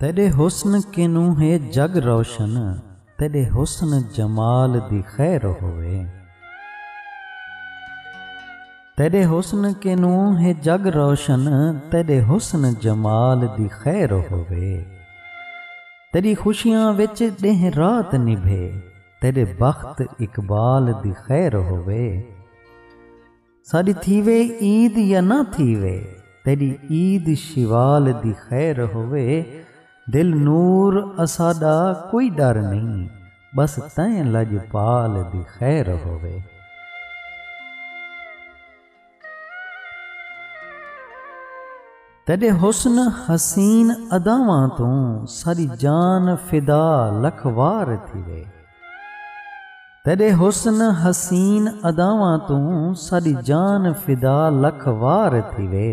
تیݙے حسن کنوں ہے جڳ روشن تیݙے حسن جمال دی خیر ہووے۔ تیݙے حسن کنوں ہے جڳ روشن تیݙے حسن جمال دی خیر ہووے۔ تیݙی خوشیاں وچ ݙینہہ رات نبھے تیݙے بخت اقبال دی خیر ہووے۔ ساݙی تھیوے عید یا نہ تھیوے تیݙی عید شوال دی خیر ہووے دل نور اساݙا کوئی ݙر نئیں ٻس تیں لڄپال دی خیر ہووے۔ تیݙے حسن حسین اداواں توں ساݙی جان فدا لکھ وار تھیوے تیݙے حسن حسین اداواں توں ساݙی جان فدا لکھ وار تھیوے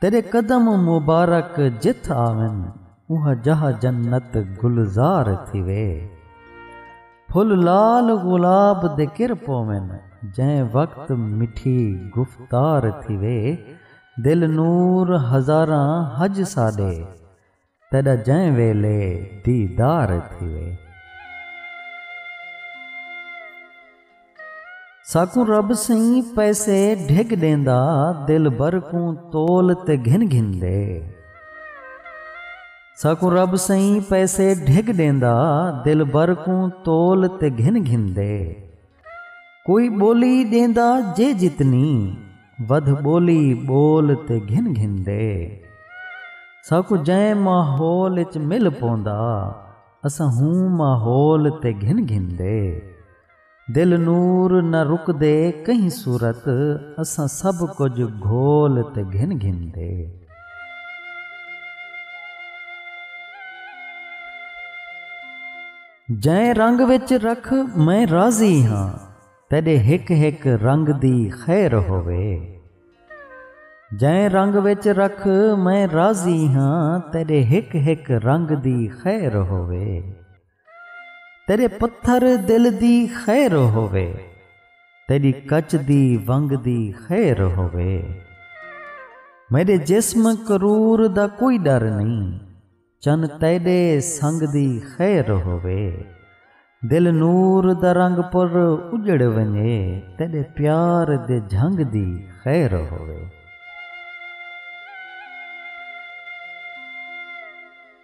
تیݙے قدم مبارک جتھ آون اوہا جاہ جنت گلزار تھیوے۔ پھل لال غلاب دے کر پوون جئیں وقت مٹھی گفتار تھیوے دل نور ہزاراں حج ساݙے تیݙا جئیں ویلے دیدار تھیوے۔ ساکوں رب سئیں پیسے ڈھگ ڈیندا دلبر کوں تول تے گھن گھندے۔ ساکوں رب سئیں پیسے ڈھگ ڈیندا دلبر کوں تول تے گھن گھندے۔ کوئی ٻولی ݙیندا جے جتنی ودھ ٻولی ٻول تے گھن گھندے۔ ساکوں جئیں ماحول اچ مل پوندا اساں ہوں ماحول تے گھن گھندے۔ دل نور نہ رکدے کہیں صورت اساں سب کجھ گھول تے گھن گھن دے۔ جئیں رنگ وچ رکھ میں راضی ہاں تیڈے ہک ہک رنگ دی خیر ہووے۔ جئیں رنگ وچ رکھ میں راضی ہاں تیڈے ہک ہک رنگ دی خیر ہووے۔ تیݙے پتھر دل دی خیر ہووے۔ تیݙی کچ دی ونگ دی خیر ہووے۔ میݙے جسم کرور دا کوئی ݙر نئیں۔ چن تیݙے سنگ دی خیر ہووے۔ دل نور دا رنگ پر اڄڑ ونڄے۔ تیݙے پیار دے جھنگ دی خیر ہووے۔